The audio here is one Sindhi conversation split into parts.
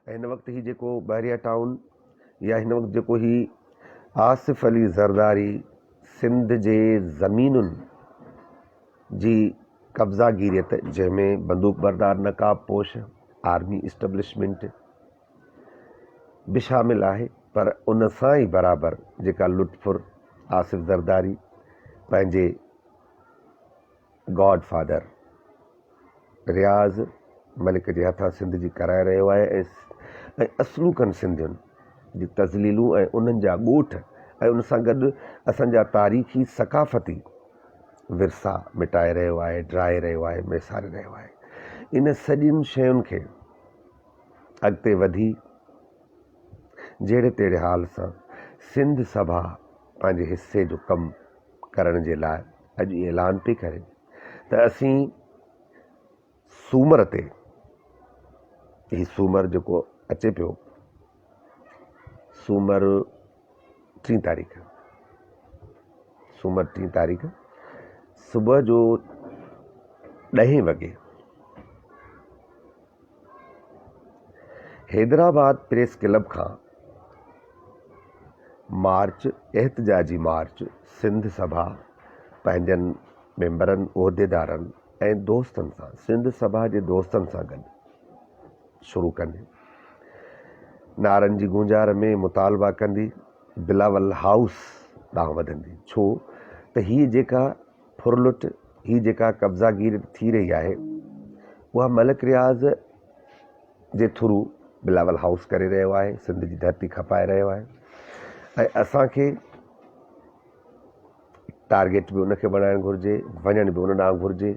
هن وقت هي جيڪو بحريا ٽائون يا هن وقت جيڪو هي آصف علي زرداري سنڌ جي زمينن جي قبضا گيريت جنهن ۾ بندوق بردار نقاب پوش آرمي اسٽبلشمنٽ به شامل آهي پر ان سان ئي برابر جيڪا لطفر آصف زرداري پنهنجي گاڊ فادر رياض ملڪ جي هٿان سنڌ جي ڪرائي رهيو آهي ۽ اصلوڪن سنڌين جي تذليلون ۽ انهن جا ڳوٺ ۽ ان سان گڏ اسان جا تاريخي ثقافتي ورثا مٽائي رهيو آهي ڊرائي رهيو آهي ميساري رهيو آهي ان سڄين شين کي اڳتي وڌي جهڙي تهڙي حال سان سنڌ سڀا پنهنجي حصي جو ڪم ڪرڻ جي لاء اڄ اعلان پئي ڪري ته اسين سومر تي هي سومر جيڪو اچي پيو سومر ٽي تاريخ سومر ٽي تاريخ صبح جو ڏهين وڳي حيدرآباد پريس ڪلب کان مارچ احتجاجي مارچ سنڌ سڀا پنهنجن ميمبرن عهديدارن ۽ دوستن سان سنڌ سڀا جي دوستن سان گڏ شروع ڪندي نعرن جي گونجار ۾ مطالبا ڪندي بلاول هائوس ڏانهن وڌندي ڇو ته هي جيڪا ڦرلٽ هي جيڪا قبضا گيري ٿي رهي آهي اها ملڪ رياض جي ٿرو بلاول هائوس ڪري رهيو آهي سنڌ جي ڌرتي کپائي رهيو آهي ۽ اسانکي ٽارگيٽ به ان کي بڻائڻ گهرجي وڃڻ به ان ڏانهن گهرجي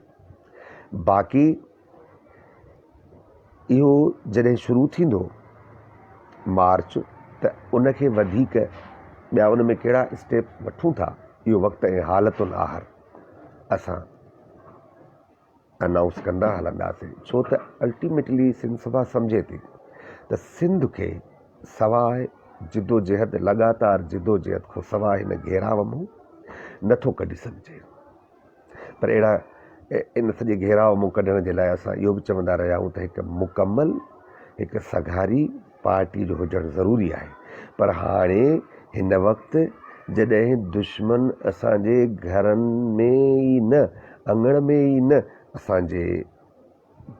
باقي اهو جڏهن شروع ٿيندو مارچ ته ان کي وڌيڪ ٻيا ان ۾ ڪهڙا اسٽيپ وٺون ٿا اهو وقت ۽ حالت الآخر اسان انائونس ڪندا هلنداسين ڇو ته الٽيميٽلي سنڌ سڀا سمجهي ٿي ته سنڌ کي سواء جدوجهد لڳاتار جدوجهد کان سواء هن گهيراو مون نٿو ڪڍي سگهجي پر اهڙا ان سڄي گهيراء مون ڪڍڻ جي لاء اسان اهو به چوندا رهيا آهيون ته هڪ مڪمل هڪ سگهاري پارٽي جو هجڻ ضروري آهي پر هاڻي هن وقت جڏهن دشمن اسان جي گهرن ۾ ئي نه اڱڻ ۾ ئي نه اسان جي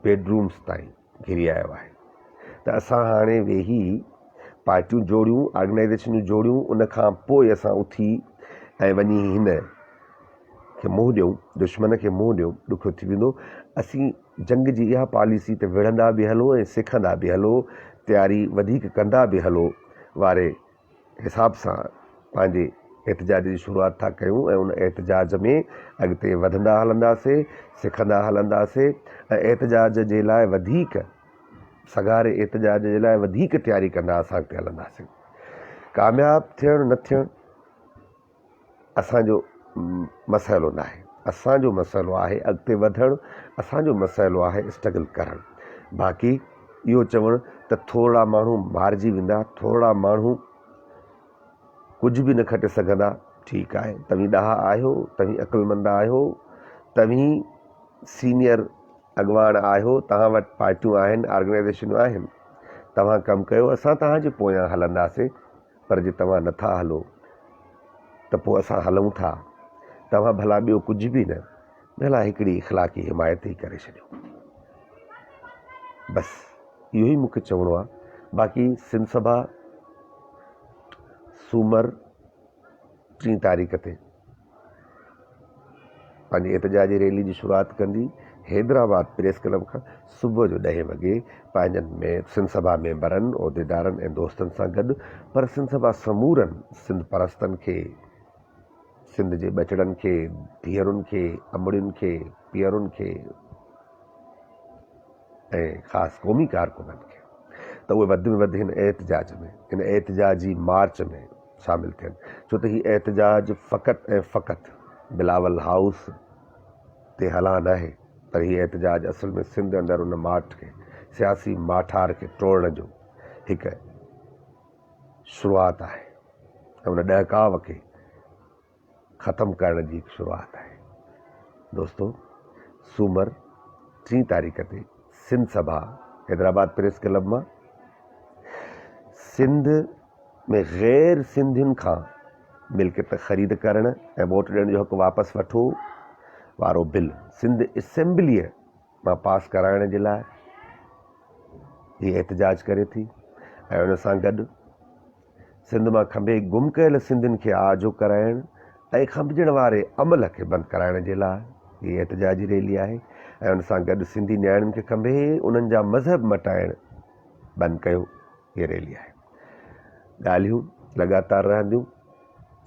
بيڊ رومس تائين گهري آيو آهي ته اسان هاڻي ويهي پارٽيون جوڙيون، آرگنائيزيشنون جوڙيون، ان کان پوء اسان اٿي ۽ وڃي هن کي منهن ڏيون، دشمن کي منهن ڏيون، ڏکيو ٿي ويندو. اسين جنگ جي اها پاليسي ته وڙهندا به هلو ۽ سکندا به هلو، تياري وڌيڪ ڪندا به هلو واري حساب سان پنهنجي احتجاج جي شروعات ٿا ڪيون ۽ ان احتجاج ۾ اڳتي وڌندا هلنداسين، سکندا هلنداسين ۽ احتجاج جي لاء وڌيڪ سگهاري احتجاج جي لاء وڌيڪ تياري ڪندا اسان اڳتي هلنداسين. ڪامياب ٿيڻ نه ٿيڻ. اسان جو مسئلو ناهي، اسان جو مسئلو آهي اڳتي وڌڻ، اسان جو مسئلو آهي اسٽرگل ڪرڻ، باقي اهو چوڻ ته ٿورڙا ماڻهو مارجي ويندا، ٿورڙا ماڻهو ڪجهه به نه کٽي سگهندا، ٺيڪ آهي توهين ڏاها آهيو، توهين عقلمند آهيو، توهين سينيئر اڳواڻ آهيو، توهان وٽ پارٽيون آهن، آرگنائيزيشنون آهن، توهان ڪم ڪيو، اسان توهان جي پويان هلنداسين، پر جي توهان نه ٿا هلو ته پوء اسان هلون ٿا. توهان ڀلا ٻيو ڪجهه به نه، ڀلا هڪڙي اخلاقي حمايت ئي ڪري ڇڏيو. بس اهو ئي مون کي چوڻو آهي. باقي سنڌ سڀا سومر ٽين تاريخ تي پنهنجي احتجاجي ريلي جي شروعات ڪندي حيدرآباد پريس ڪلب کان صبح جو ڏهين وڳي پنهنجن سنڌ سڀا ميمبرن، عهديدارن ۽ دوستن سان گڏ پر سنڌ سڀا سمورن سنڌ پرستن کي، سنڌ جي ٻچڙن کي، ڌيئرن کي، امڙين کي، پيئرن کي ۽ خاص قومي ڪارڪنن کي ته اهي وڌ ۾ وڌ هن احتجاج ۾ هن احتجاجي مارچ ۾. شامل ٿين ڇو ته هي احتجاج فقط ۽ فقط بلاول هائوس تي هلان ناهي پر هي احتجاج اصل ۾ سنڌ اندر ان ماٺ کي سياسي ماٺار کي ٽوڙڻ جو هڪ شروعات آهي ۽ ان ڏهڪاء کي ختم ڪرڻ جي شروعات آهي. دوستو سومر ٽين تاريخ تي سنڌ سڀا حيدرآباد پريس ڪلب مان سنڌ ۾ غير سنڌين کان ملڪيت خريد ڪرڻ ۽ ووٽ ڏيڻ جو حق واپس وٺو وارو بل سنڌ اسيمبليء مان پاس ڪرائڻ جي لاء هي احتجاج ڪري ٿي ۽ ان سان گڏ سنڌ مان کنڀي گم ڪيل سنڌين کي آجو ڪرائڻ ۽ کنڀجڻ واري عمل کي بند ڪرائڻ جي لاء هي احتجاجي ريلي آهي ۽ ان سان گڏ سنڌي نياڻين کي کنڀي انهن جا مذهب مٽائڻ بند ڪيو هي ريلي آهي ڳالهيون لڳاتار رهنديون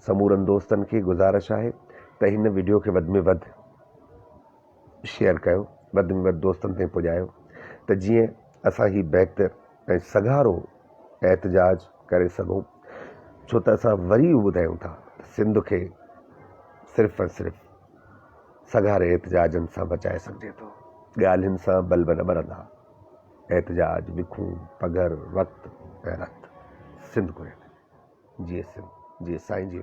سمورن دوستن کي گزارش آهي ته هن وڊيو کي وڌ ۾ وڌ شيئر ڪيو وڌ ۾ وڌ دوستن تائين پڄايو ته جيئن اسان هي بهتر ۽ سگهارو احتجاج ڪري سگهون ڇو ته اسان وري اهو ٻڌايون ٿا ته سنڌ کي صرف ۽ صرف سگهاري احتجاجن سان بچائي سگهجي ٿو ڳالهين سان بلب نه ٻرندا احتجاج وکون پگهر وقت ۽ رت سنڌ گهري ٿي جيئي سنڌ جيئي سائين جي